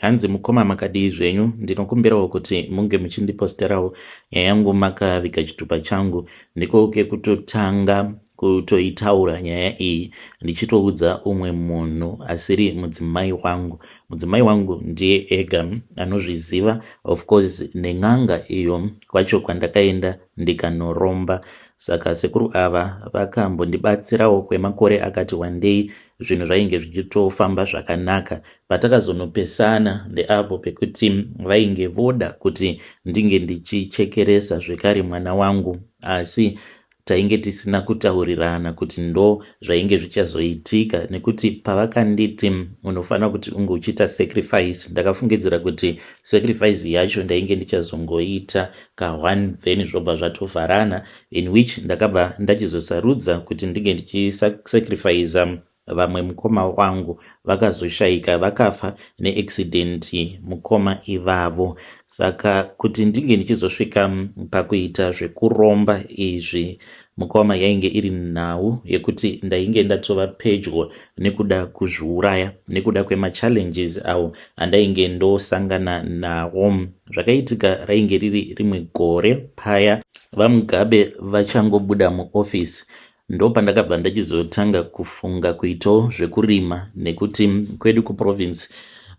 Hanzi mukoma makadii zvenyu ndinokumbirawo kuti munge muchindiposterawo nyaya yangu makaviga chitupa changu ndiko kekutotanga kutoitaura nyaya iyi ndichitoudza umwe munhu asiri mudzimai wangu mudzimai wangu ndiye ega anozviziva of course nen'anga iyo kwacho kwandakaenda ndikanoromba saka sekuru ava vakambondibatsirawo kwemakore akati wandei zvinhu zvainge zvichitofamba zvakanaka Patakazonopesana ndeapo pekuti vainge voda kuti ndinge ndichichekeresa zvekare mwana wangu asi tainge tisina kutaurirana kuti ndo zvainge zvichazoitika nekuti pavakanditi unofanira kuti unge uchiita sacrifice ndakafungidzira kuti sacrifice yacho ndainge ndichazongoita kahwani then zvobva zvatovharana in which ndakabva ndachizosarudza kuti ndinge ndichisacrifiza vamwe mukoma wangu vakazoshaika vakafa neaccident mukoma ivavo saka kuti ndinge ndichizosvika pakuita zvekuromba izvi mukoma yainge iri nhau yekuti ndainge ndatova pedyo nekuda kuzviuraya nekuda kwemachallenges awo andainge ndosangana nawo zvakaitika rainge riri rimwe gore paya vamugabe vachangobuda muofisi Ndopandakabva ndachizotanga kufunga kuitawo zvekurima nekuti kwedu kuprovince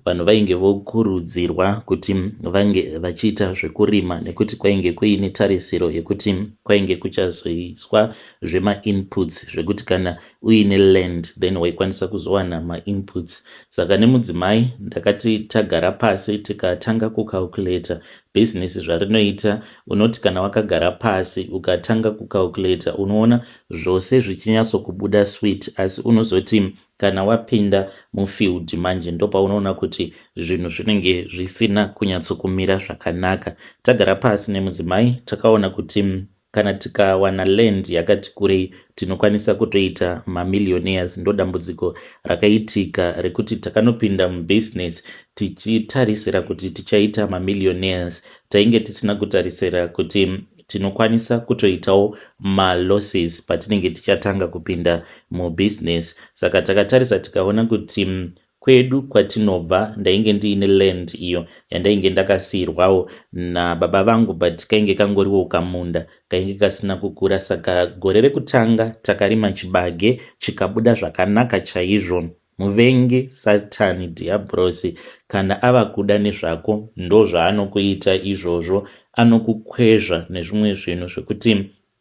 vanhu vainge vokurudzirwa kuti vange vachiita zvekurima nekuti kwainge kuine tarisiro yekuti kwainge kuchazoiswa zvemainputs zvekuti kana uine land then waikwanisa kuzowana mainputs saka nemudzimai ndakati tagara pasi tikatanga kucalculator Bhizinesi zvarinoita unoti kana wakagara pasi ukatanga kucalculator unoona zvose zvichinyatsokubuda sweet asi unozoti kana wapinda mufield manje ndopaunoona kuti zvinhu zvinenge zvisina kunyatsokumira zvakanaka. Tagara pasi nemudzimai takaona kuti kana tikawana land yakati kurei tinokwanisa kutoita mamillionaires ndodambudziko rakaitika rekuti takanopinda mubusiness tichitarisira kuti tichaita mamillionaires tainge tisina kutarisira kuti tinokwanisa kutoitawo malosses patinenge tichatanga kupinda mubusiness saka takatarisa tikaona kuti Kwedu kwatinobva ndainge ndiine land iyo yandainge ndakasiirwawo nababa vangu but kainge kangoriwo kamunda kainge kasina kukura saka gore rekutanga takarima chibage chikabuda zvakanaka chaizvo. Muvengi satani dhiyabhurosi kana ava kuda nezvako ndozvaanokuita izvozvo, anokukwezva nezvimwe zvinhu zvekuti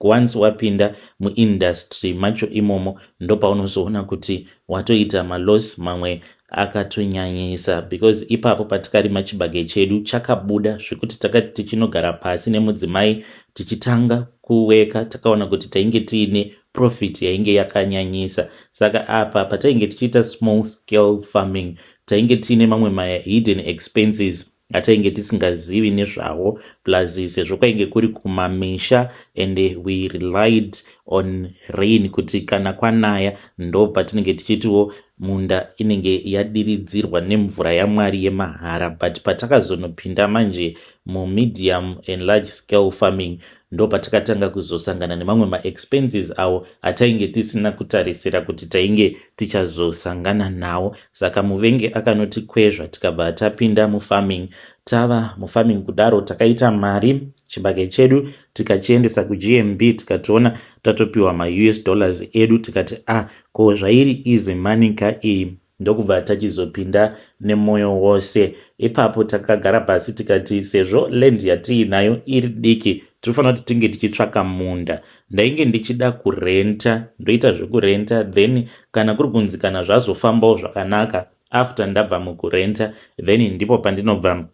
Once wapinda muindustry macho imomo ndopaunozoona kuti watoita maloss mamwe akatonyanyisa because ipapo patikarima chibage chedu chakabuda zvekuti takati tichinogara pasi nemudzimai tichitanga kuweka takaona kuti tainge tiine profit yainge yakanyanyisa saka apa patainge tichiita small scale farming tainge tiine mamwe mahidden expenses ngatainge tisingazivi nezvawo plus sezvo kwainge kuri kumamisha and we relied on rain kuti kana kwanaya ndo patinenge tichitiwo munda inenge yadiridzirwa nemvura yamwari yemahara but patakazonopinda manje mumedium and large scale farming ndopatakatanga kuzosangana nemamwe maexpenses awo atainge tisina kutarisira kuti tainge tichazosangana nawo saka muvenge akanotikwezva tikabva tapinda mufarming tava mufarming kudaro takaita mari chibage chedu tikachiendesa kugmb tikatoona tatopiwa maus dollars edu tikati a ah, ko zvairi easy money ka iyi ndokubva tachizopinda nemwoyo wose ipapo takagara pasi tikati sezvo land yatiinayo iri diki tinofanira kuti tinge tichitsvaka munda ndainge ndichida kurenta ndoita zvekurenta then kana kuri kunzi kana zvazofambawo zvakanaka after ndabva mukurenta then ndipo pandinobva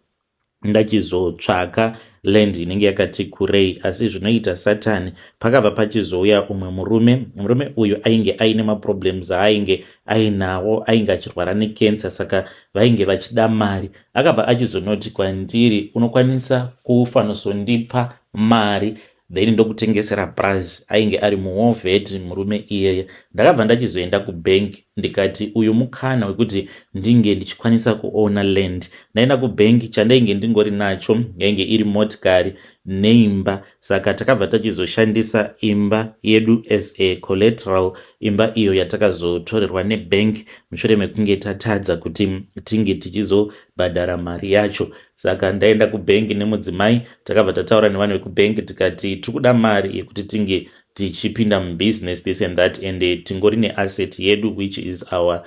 ndachizotsvaka land inenge yakati kurei asi zvinoita satani pakabva pachizouya umwe murume murume uyu ainge aine maproblems aainge ainawo ainge achirwara necancer saka vainge vachida mari akabva achizonoti kwandiri unokwanisa kufanosondipa mari then ndokutengesera price ainge ari muovet murume iyeye ndakabva ndachizoenda kubank ndikati uyu mukana wekuti ndinge ndichikwanisa kuona land ndaenda kubank chandainge ndingori nacho yainge iri motikari neimba saka takabva tachizoshandisa imba yedu as a collateral imba iyo yatakazotorerwa nebank mushure mekunge tatadza kuti tinge tichizobhadhara mari yacho saka ndaenda kubank nemudzimai takabva tataura nevanhu vekubank tikati tiri kuda mari yekuti tinge tichipinda mubusiness this and that and eh, tingori neasset yedu which is our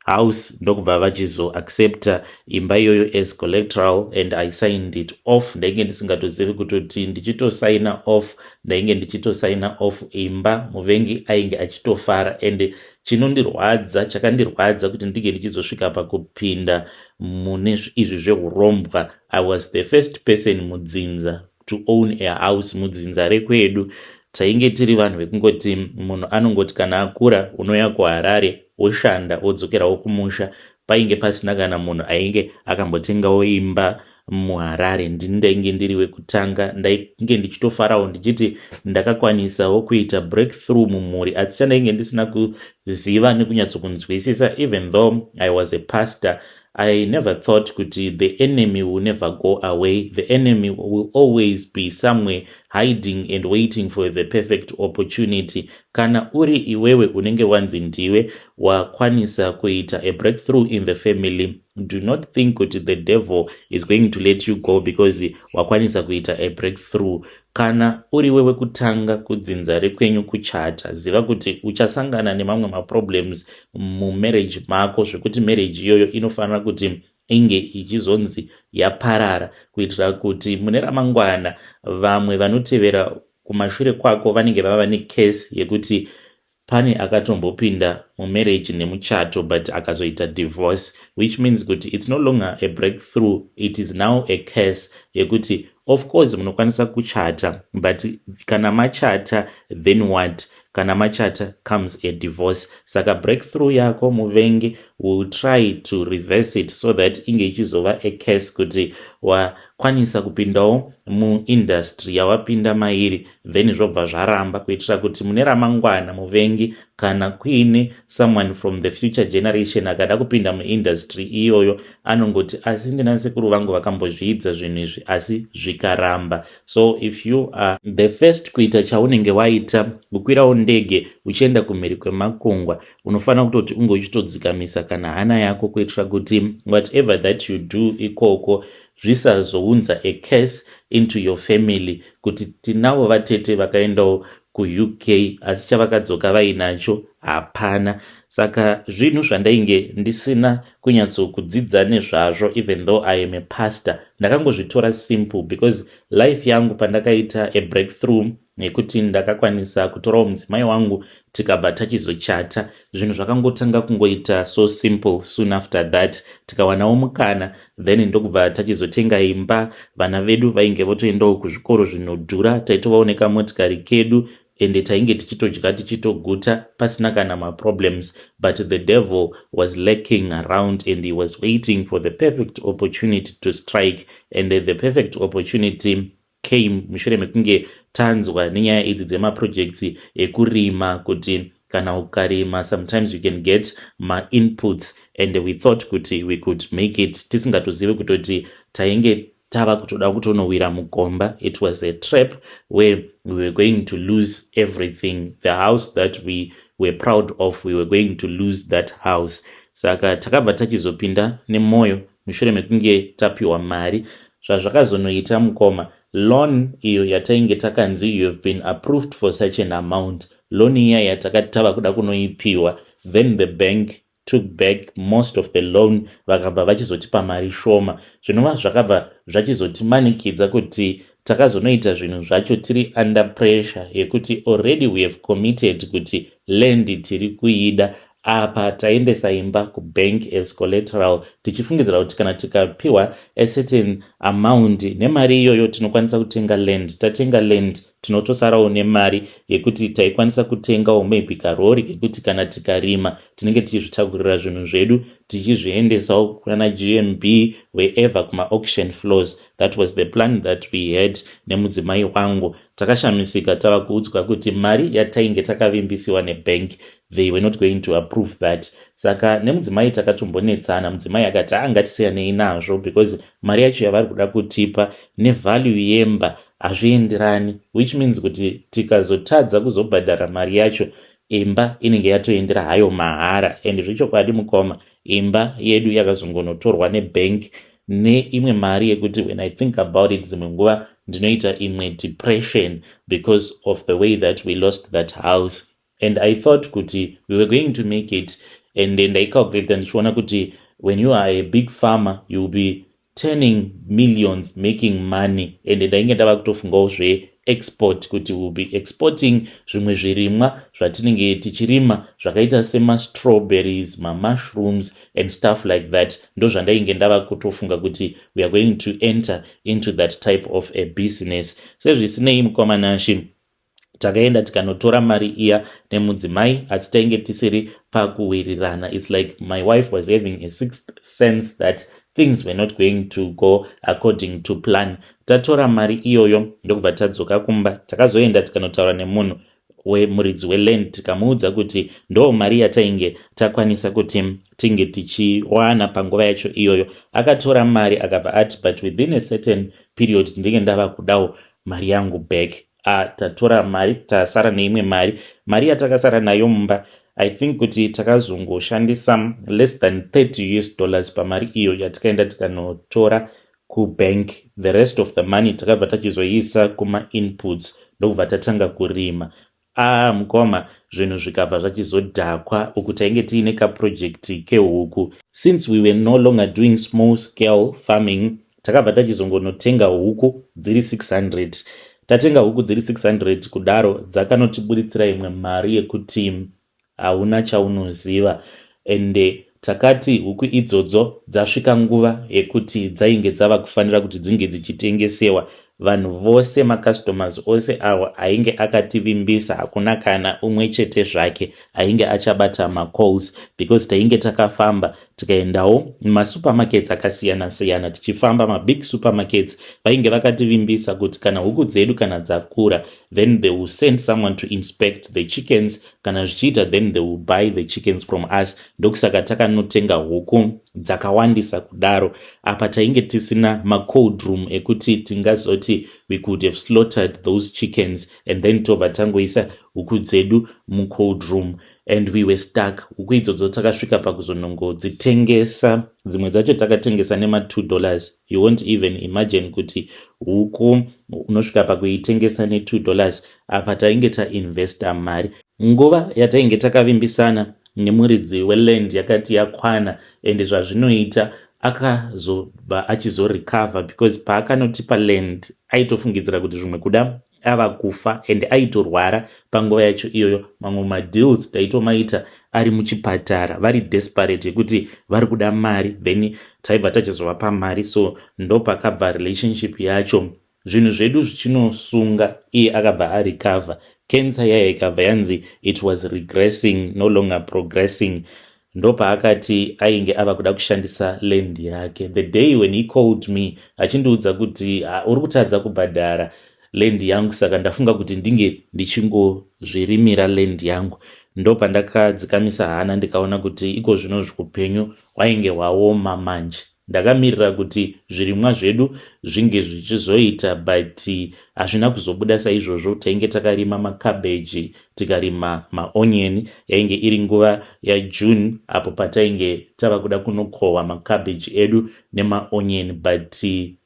house ndokubva vachizoaccepta imba iyoyo as collectoral and i signed it off ndainge ndisingatozivi kutoti ndichitosaina off ndainge ndichitosaina off imba muvengi ainge achitofara and Chinondirwadza, chakandirwadza kuti ndinge ndichizosvika pakupinda mune izvi zvehurombwa. I was the first person mudzinza to own a house mudzinza rekwedu. Tainge tiri vanhu vekungoti munhu anongoti kana akura unoya kuHarare woshanda wodzokerawo kumusha Painge pasina kana munhu ainge akambotengawo imba muHarare. Ndini ndainge ndiri wekutanga. Ndainge ndichitofarawo ndichiti ndakakwanisawo kuita breakthrough mumhuri asi chandainge ndisina kuziva nekunyatsokunzwisisa even though I was a pastor I never thought kuti the enemy will never go away. The enemy will always be somewhere hiding and waiting for the perfect opportunity. Kana uri iwewe unenge wanzi ndiwe wakwanisa kuita a breakthrough in the family do not think kuti the devil is going to let you go because wakwanisa kuita a breakthrough kana uri wewe kutanga kudzinza rekwenyu kuchata ziva kuti uchasangana nemamwe maproblems mumarriage mako zvekuti marriage iyoyo inofanira kuti inge ichizonzi yaparara kuitira kuti mune ramangwana vamwe vanotevera kumashure kwako vanenge vava necase yekuti Pane akatombopinda mumarriage nemuchato but akazoita divorce which means kuti it's no longer a breakthrough it is now a curse yekuti of course munokwanisa kuchata but kana machata then what kana machata comes a divorce saka breakthrough yako muvengi will try to reverse it so that inge ichizova a case kuti wakwanisa kupindawo muindustry yawapinda mairi then zvobva zvaramba kuitira kuti mune ramangwana muvengi kana kuine someone from the future generation akada kupinda muindustry iyoyo anongoti asi ndinasekuru vangu vakambozviidza zvinhu izvi asi zvikaramba so if you are the first kuita chaunenge waita kukwirawo ndege uchienda kumhiri kwemakungwa unofanira kutoti unge uchitodzikamisa kana hana yako kuitira kuti whatever that you do ikoko zvisazounza a curse into your family kuti tinawo vatete vakaendawo kuuk asi chavakadzoka vainacho hapana saka zvinhu zvandainge ndisina kunyatsokudzidza nezvazvo even though i am a pastor ndakangozvitora simple because life yangu pandakaita a breakthrough nekuti ndakakwanisa kutorawo mudzimai wangu tikabva tachizochata zvinhu zvakangotanga kungoita so simple soon after that tikawanawo mukana then ndokubva tachizotenga imba vana vedu vainge votoendawo kuzvikoro zvinodhura taitovaoneka motikari kedu ende tainge tichitodya tichitoguta pasina kana maproblems but the devil was lacking around and he was waiting for the perfect opportunity to strike and the perfect opportunity Came mushure mekunge tanzwa nenyaya idzi dzemaprojects ekurima kuti kana ukarima sometimes you can get mainputs and we thought kuti we could make it tisingatozive kutoti tainge tava kutoda kutonowira mugomba it was a trap where we were going to lose everything the house that we were proud of we were going to lose that house saka takabva tachizopinda nemwoyo mushure mekunge tapiwa mari zvazvakazonoita mukoma loan iyo yatainge takanzi you have been approved for such an amount loan iya yatakati tava kuda kunoipiwa then the bank took back most of the loan vakabva vachizotipa mari shoma zvinova zvakabva zvachizotimanikidza kuti takazonoita zvinhu zvacho tiri under pressure yekuti already we have committed kuti lendi tiri kuida Apa taiendesa imba kubank as collateral tichifungidzira kuti kana tikapiwa a certain amount nemari iyoyo tinokwanisa kutenga land. Tatenga land tinotosarawo nemari yekuti taikwanisa kutengawo maybe karori kekuti kana tikarima tinenge tichizvitakurira zvinhu zvedu tichizviendesawo kunana GMB wherever kuma auction floors. That was the plan that we had nemudzimai wangu. Takashamisika tava kuudzwa kuti mari yatainge takavimbisiwa nebank they were not going to approve that. Saka nemudzimai takatombonetsana, mudzimai akati haa ngatisiyanei nazvo because mari yacho yavari kuda kutipa nevalue yemba hazvienderani which means kuti tikazotadza kuzobhadhara mari yacho imba inenge yatoendera hayo mahara and zvechokwadi mukoma imba yedu yakazongonotorwa nebank ne imwe mari yekuti when i think about it dzimwe nguva ndinoita imwe depression because of the way that we lost that house and i thought kuti we were going to make it and ndaicalculata ndichiona kuti when you are a big farmer you will be turning millions making money and ndainge ndava kutofungawo zve export kuti will be exporting zvimwe zvirimwa zvatinenge tichirima zvakaita semastrawberries mamushrooms and stuff like that ndozvandainge ndava kutofunga kuti weare going to enter into that type of a business sezvisinei mukwamanashe takaenda tikanotora mari iya nemudzimai asi tainge tisiri pakuwirirana its like my wife was having a sixth sense that things were not going to go according to plan Tatora mari iyoyo ndokubva tadzoka kumba. Takazoenda tikanotaura nemunhu wemuridzi weland tikamuudza kuti ndoo mari yatainge takwanisa kuti tinge tichiwana panguva yacho iyoyo. Akatora mari akabva ati but within a certain period ndinenge ndava kudawo mari yangu back. A, tatora mari tasara neimwe mari. Mari yatakasara nayo mumba i think kuti takazongoshandisa less than 30 us dollars pamari iyo yatikaenda tikanotora kubank the rest of the money takabva tachizoiisa kumainputs ndokubva tatanga kurima ah mukoma zvinhu zvikabva zvachizodhakwa uku tainge tiine kaproject kehuku since we were no longer doing small scale farming takabva tachizongonotenga huku dziri 600 tatenga huku dziri 600 kudaro dzakanotiburitsira imwe mari yekuti Hauna chaunoziva ende takati huku idzodzo dzasvika nguva yekuti dzainge dzava kufanira kuti dzinge dzichitengesewa vanhu vose macustomers ose awo ainge akativimbisa hakuna kana umwe chete zvake ainge achabata macalls because tainge takafamba tikaendawo mumasupermarkets akasiyana siyana tichifamba mabig supermarkets vainge vakativimbisa kuti kana huku dzedu kana dzakura then they will send someone to inspect the chickens kana zvichiita then they will buy the chickens from us ndokusaka takanotenga huku dzakawandisa kudaro apa tainge tisina macold room ekuti tingazoti we could have slaughtered those chickens and then tobva tangoisa huku dzedu mucold room and we were stuck huku idzodzo takasvika pakuzonongodzitengesa dzimwe dzacho takatengesa nema2 dollars you won't even imagine kuti huku unosvika pakuitengesa ne2 dollars apa tainge tainvesta mari nguva yatainge takavimbisana nemuridzi weland yakati yakwana and zvazvinoita akazobva achizorecover because paakanotipa land aitofungidzira kuti zvimwe kuda ava kufa and aitorwara panguva yacho iyoyo mamwe madeals taitomaita ari muchipatara vari desperate yekuti vari kuda mari then taibva tachizovapa mari so ndopakabva relationship yacho zvinhu zvedu zvichinosunga iye akabva arecover cancer yaye ikabva yanzi it was regressing no longer progressing Ndopaakati ainge ava kuda kushandisa land yake the day when he called me achindiudza kuti uri kutadza kubhadhara land yangu saka ndafunga kuti ndinge ndichingozvirimira land yangu ndopandakadzikamisa hana ndikaona kuti iko zvino zvukupenyu wainge waoma manje Ndakamirira kuti zvirimwa zvedu zvinge zvichizoita but hazvina kuzobuda saizvozvo. Tainge takarima macabbage tikarima maonion. Yainge iri nguva yaJune apo patainge tava kuda kunokohwa macabbage edu nemaonion but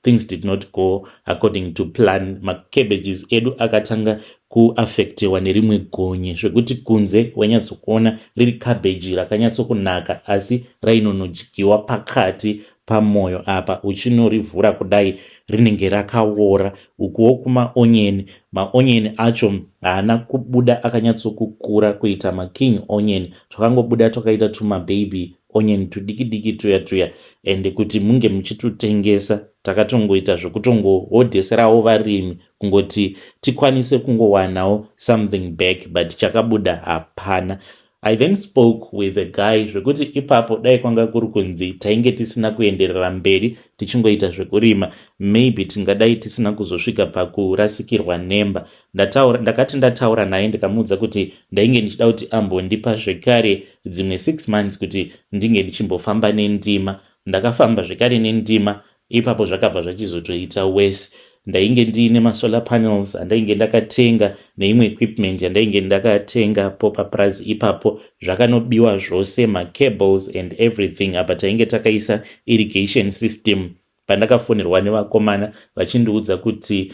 things did not go according to plan. Macabbages edu akatanga kuaffectewa nerimwe gonye zvekuti kunze wainyatsokuona riri cabbage rakanyatsokunaka asi rainonodyiwa pakati pamoyo apa uchinorivhura kudai rinenge rakawora ukuwo kumaonyeni maonyeni acho haana kubuda akanyatsokukura kuita making onion twakangobuda twakaita tumababy onion tudiki diki tuya tuya ende kuti munge muchitutengesa takatongoita zvekutongohodheserawo varimi kungoti tikwanise kungowanawo something back but chakabuda hapana i then spoke with a guy zvekuti ipapo dai kwanga kuri kunzi tainge tisina kuenderera mberi tichingoita zvekurima maybe tingadai tisina kuzosvika pakurasikirwa nemba ndakati ndataura naye ndikamuudza kuti ndainge ndichida kuti ambondipa zvekare dzimwe six months kuti ndinge ndichimbofamba nendima ndakafamba zvekare nendima Ipapo zvakabva zvachizotoita worse ndainge ndiine masolar panels andainge ndakatenga neimwe equipment yandainge ndakatenga po papurazi ipapo zvakanobiwa zvose macables and everything apa tainge takaisa irrigation system pandakafonerwa nevakomana vachindiudza kuti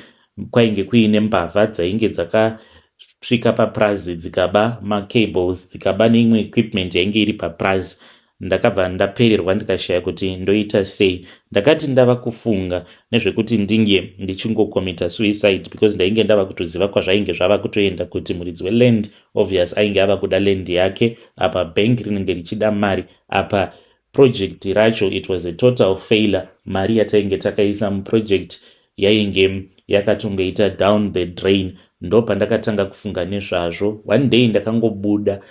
kwainge kuine mbavha dzainge dzakasvika papurazi dzikaba macables dzikaba neimwe equipment yainge iri papurazi Ndakabva ndapererwa ndikashaya kuti ndoita sei. Ndakati ndava kufunga nezvekuti ndinge ndichingokomita suicide because ndainge ndava kutoziva kwazvainge zvava kutoenda kuti muridzi weland obvious ainge ava kuda land yake apa bank rinenge richida mari apa project racho it was a total failure mari yatainge takaisa muproject yainge yakatongoita down the drain ndopandakatanga kufunga nezvazvo one day ndakangobuda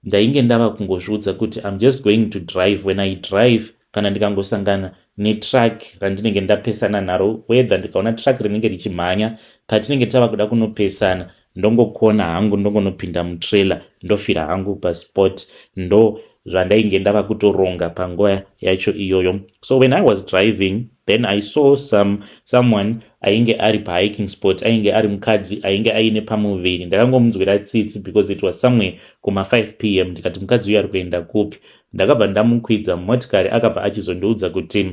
Ndainge ndava kungozviudza kuti I'm just going to drive when I drive kana ndikangosangana netruck randinenge ndapesana naro whether ndikaona truck rinenge richimhanya patinenge tava kuda kunopesana ndongokona hangu ndongonopinda mutrailer ndofira hangu pasport ndo zvandainge ndava kutoronga panguva yacho iyoyo so when i was driving then i saw some someone ainge ari pahiking spot ainge ari mukadzi ainge aine pamuviri ndakangomunzwira tsitsi because it was somewhere kuma 5 pm ndikati mukadzi uyu ari kuenda kupi ndakabva ndamukwidza mumotikari akabva achizondiudza kuti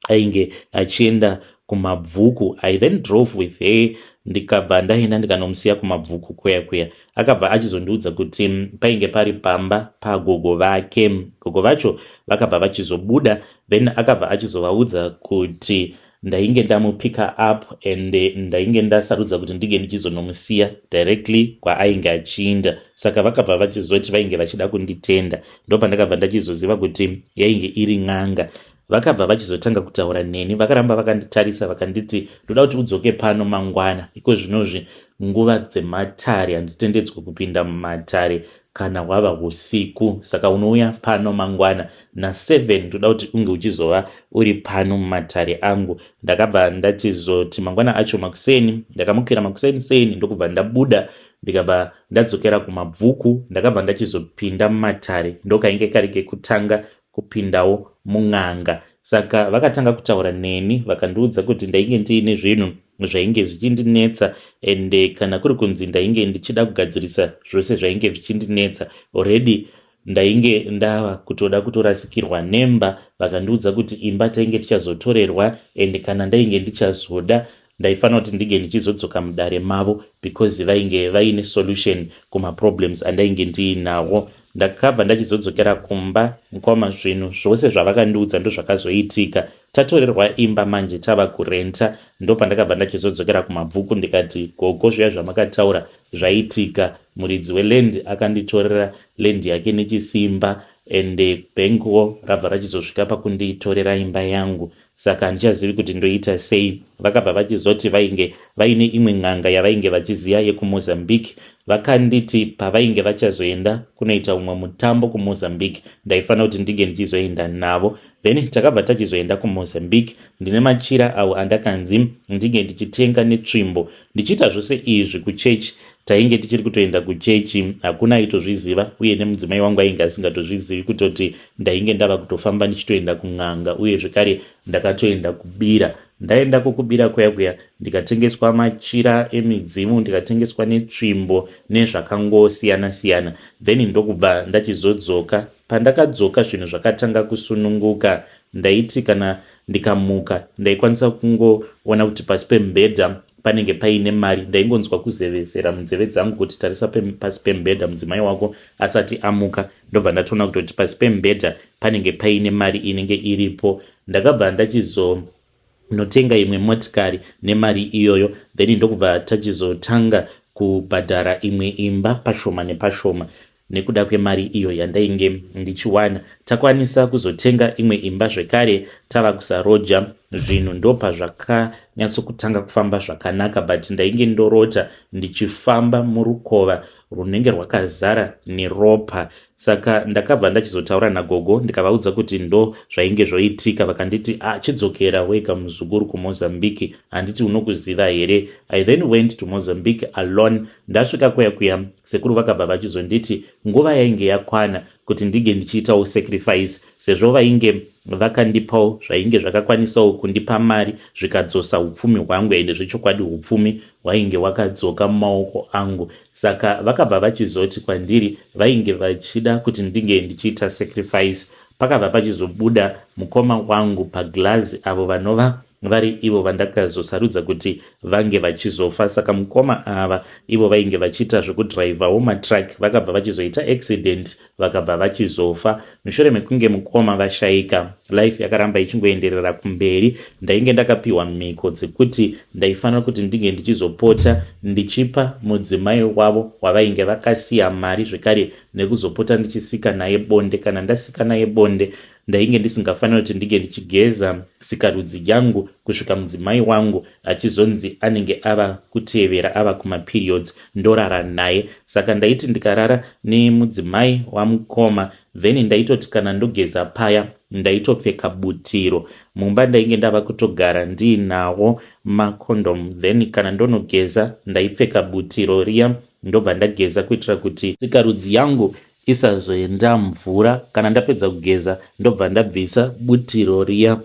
ainge achienda kumabvuku i then drove with her ndikabva ndaenda ndikanomusiya kumabvuku kuya kuya akabva achizondiudza kuti mm, painge pari pamba pagogo vake gogo vacho vakabva vachizobuda then akabva achizovaudza kuti Ndainge ndamupicker up and ndainge ndasarudza kuti ndinge ndichizonomusiya directly kwaainge achiinda saka vakabva vachizoti vainge vachida kunditenda ndopandakabva ndachizoziva kuti yainge iri n'anga vakabva vachizotanga kutaura neni vakaramba vakanditarisa vakanditi ndoda kuti udzoke pano mangwana iko zvinozvi nguva dzematare handitendedzwe kupinda mumatare kana hwava husiku saka unouya pano mangwana na7 toda kuti unge uchizova uri pano mumatare angu ndakabva ndachizoti mangwana acho makuseni ndakamukira makuseni seni ndokubva ndabuda ndikabva ndadzokera kumabvuku ndakabva ndachizopinda mumatare ndokainge kari kekutanga kupindawo mun'anga saka vakatanga kutaura neni vakandiudza kuti ndainge ndiine zvinhu zvainge zvichindinetsa ende eh, kana kuri kunzi ndainge ndichida kugadzirisa zvose zvainge zvichindinetsa already ndainge ndava kutoda kutorasikirwa nemba vakandiudza kuti imba tainge tichazotorerwa ende eh, kana ndainge ndichazoda Ndaifanira kuti ndinge ndichizodzoka mudare mavo because vainge vaine solution kumaproblems andainge ndiinawo. Ndakabva ndachizodzokera kumba mukoma zvinhu zvose zvavakandiudza ndozvakazoitika. Tatorerwa imba manje tava kurenta ndopandakabva ndachizodzokera kumabvuku ndikati gogo zviya zvamakataura zvaitika muridzi weland akanditorera land yake nechisimba ende bhenguwo rabva rachizosvika pakunditorera imba yangu saka handichazivi kuti ndoita sei. Vakabva vachizoti vainge vaine imwe n'anga yavainge vachiziva yekuMozambique. Vakanditi pavainge vachazoenda kunoita umwe mutambo kuMozambique ndaifanira kuti ndinge ndichizoenda navo. Then takabva tachizoenda kuMozambique ndine machira awo andakanzi ndinge ndichitenga netsvimbo. Ndichiita zvose izvi kuchechi tainge tichiri kutoenda kuchechi hakuna aitozviziva uye nemudzimai wangu ainge asingatozvizivi kutoti ndainge ndava kutofamba ndichitoenda kun'anga uye zvekare ndakatoenda kubira ndaendako kubira kuya kuya ndikatengeswa machira emidzimu ndikatengeswa netsvimbo nezvakangosiyana siyana then ndokubva ndachizodzoka pandakadzoka zvinhu zvakatanga kusununguka ndaiti kana ndikamuka ndaikwanisa kungoona kuti pasi pemubhedha panenge paine mari ndaingonzwa kuzevezera munzeve dzangu kuti tarisa pasi pemubhedha mudzimai wako asati amuka ndobva ndatoona kutoti pasi pemubhedha panenge paine mari inenge iripo ndakabva ndachizonotenga imwe motikari nemari iyoyo then ndokubva tachizotanga kubhadhara imwe imba pashoma nepashoma Nekuda kwemari iyo yandainge ndichiwana, takwanisa kuzotenga imwe imba zvekare tava kusaroja zvinhu ndopazvakanyatsokutanga kufamba zvakanaka but ndainge ndorota ndichifamba murukova runenge rwakazara neropa saka ndakabva ndachizotaura nagogo ndikavaudza kuti ndo zvainge zvoitika vakanditi ah, chidzokera wega muzukuru kumozambique handiti unokuziva here i then went to mozambique alone Ndasvika kuya kuya sekuru vakabva vachizonditi nguva yainge yakwana kuti ndinge ndichiitawo sacrifice sezvo vainge vakandipawo zvainge zvakakwanisawo kundipa mari zvikadzosa upfumi hwangu ende zvechokwadi upfumi hwainge wakadzoka mumaoko angu saka vakabva vachizoti kwandiri vainge vachida kuti ndinge ndichiita sacrifice pakabva pachizobuda mukoma wangu paglazi avo vanova vari ivo vandakazosarudza kuti vange vachizofa saka mukoma ava ivo vainge vachiita zvekudhiraivhawo matruck vakabva vachizoita accident vakabva vachizofa mushure mekunge mukoma vashaika life yakaramba ichingoenderera kumberi ndainge ndakapiwa mhiko dzekuti ndaifanira kuti ndinge ndichizopota ndichipa mudzimai wavo wavainge vakasiya mari zvekare nekuzopota ndichisika naye bonde kana ndasika naye bonde Ndainge ndisingafanira kuti ndinge ndichigeza sikarudzi yangu kusvika mudzimai wangu achizonzi anenge ava kutevera ava kumaperiods ndorara naye. Saka ndaiti ndikarara nemudzimai wamukoma then ndaitoti kana ndogeza paya ndaitopfeka butiro. Mumba ndainge ndava kutogara ndiinawo macondom then kana ndonogeza ndaipfeka butiro riya ndobva ndageza kuitira kuti sikarudzi yangu isazoenda mvura kana ndapedza kugeza ndobva ndabvisa butiro riya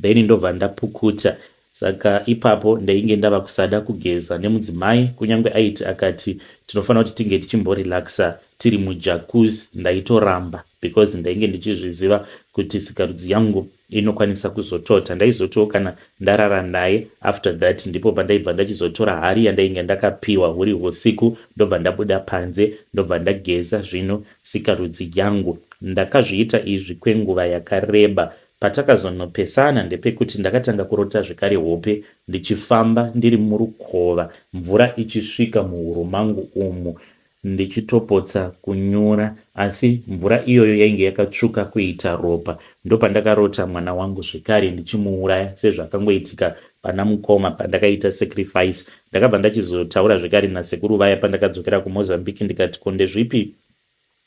then ndobva ndapukuta saka ipapo ndainge ndava kusada kugeza nemudzimai kunyange aiti akati tinofanira kuti tinge tichimborelaxa tiri mujakuzi ndaitoramba because ndainge ndichizviziva kuti sikarudzi yangu inokwanisa kuzotota ndaizotiwo kana ndarara naye after that ndipo pandaibva ndachizotora hari yandainge ndakapiwa huri husiku ndobva ndabuda panze ndobva ndageza zvino sikarudzi yangu ndakazviita izvi kwenguva yakareba patakazonopesana ndepekuti ndakatanga kurota zvekare hope ndichifamba ndiri murukova mvura ichisvika muhuru mangu umu ndichitopotsa kunyura asi mvura iyoyo yainge yakatsvuka kuita ropa. Ndopandakarota mwana wangu zvekare ndichimuuraya sezvakangoitika pana mukoma pandakaita sacrifice. Ndakabva ndachizotaura zvekare nasekuru vaya pandakadzokera kuMozambique ndikati ko ndezvipi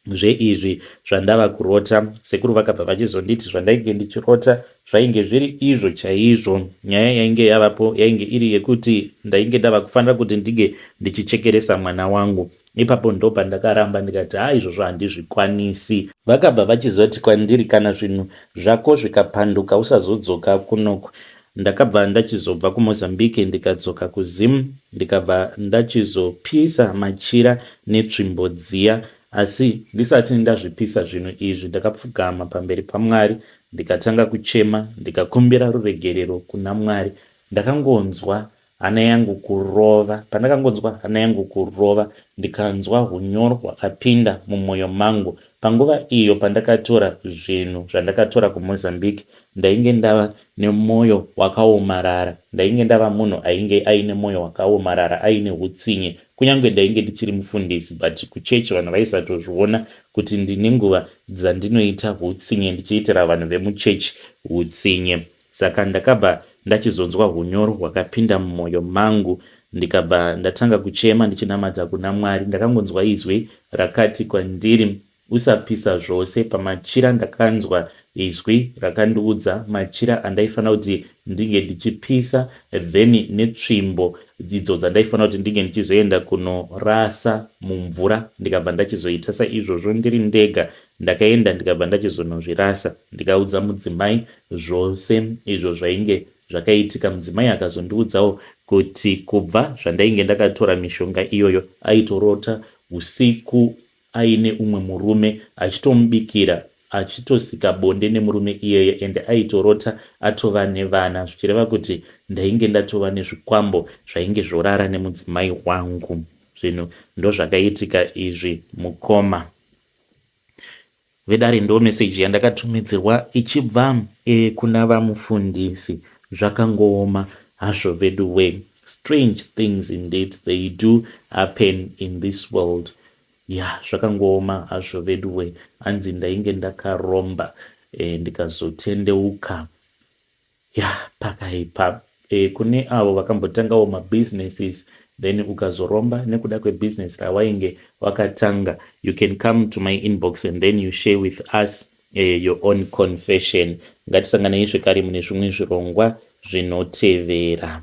zveizvi zvandava kurota. Sekuru vakabva vachizonditi zvandainge ndichirota Zvainge zviri izvo chaizvo. Nyaya yainge yavapo yainge iri yekuti ndainge ndava kufanira kuti ndinge ndichichekeresa mwana wangu. Ipapo ndopandakaramba ndikati haa izvozvo handizvikwanisi. Vakabva vachizoti kwandiri kana zvinhu zvako zvikapanduka usazodzoka kunoku. Ndakabva ndachizobva kuMozambique ndikadzoka kuZim ndikabva ndachizopisa machira netsvimbo dziya asi ndisati ndazvipisa zvinhu izvi ndakapfugama pamberi paMwari Ndikatanga kuchema ndikakumbira ruregerero kuna Mwari ndakangonzwa hana yangu kurova pandakangonzwa hana yangu kurova ndikanzwa hunyoro hwakapinda mumoyo mangu panguva iyo pandakatora zvinhu zvandakatora kuMozambique ndainge ndava nemoyo wakaomarara ndainge ndava munhu ainge aine moyo wakaomarara aine hutsinye kunyange ndainge ndichiri mufundisi but kuchechi vanhu vaisatozviona kuti ndine nguva dzandinoita hutsinye ndichiitira vanhu vemuchechi hutsinye saka ndakabva ndachizonzwa hunyoro hwakapinda mumoyo mangu ndikabva ndatanga kuchema ndichinamata kuna Mwari ndakangonzwa izwi rakati kwandiri usapisa zvose pamachira ndakanzwa Izwi rakandiudza machira andaifanira kuti ndinge ndichipisa then netsvimbo idzo dzandaifanira kuti ndinge ndichizoenda kunorasa mumvura ndikabva ndachizoita saizvozvo ndiri ndega. Ndakaenda ndikabva ndachizonozvirasa ndikaudza mudzimai zvose izvo zvainge zvakaitika. Mudzimai akazondiudzawo kuti kubva zvandainge ndakatora mishonga iyoyo aitorota usiku aine umwe murume achitomubikira achitosika bonde nemurume iyeye ende aitorota atova nevana zvichireva kuti ndainge ndatova nezvikwambo zvainge zvorara nemudzimai wangu zvinhu ndozvakaitika izvi mukoma Vedare ndo message yandakatumidzirwa ichibva kuna vamufundisi zvakangooma hazvo veduwe strange things indeed they do happen in this world yah zvakangooma hazvo veduwe hanzi ndainge ndakaromba eh, ndikazotendeuka Yah pakaipa eh, kune avo vakambotangawo ma businesses then ukazoromba nekuda kwe business rawainge wakatanga you can come to my inbox and then you share with us eh, your own confession. Ngatisanganei zvekare mune zvimwe zvirongwa zvinotevera.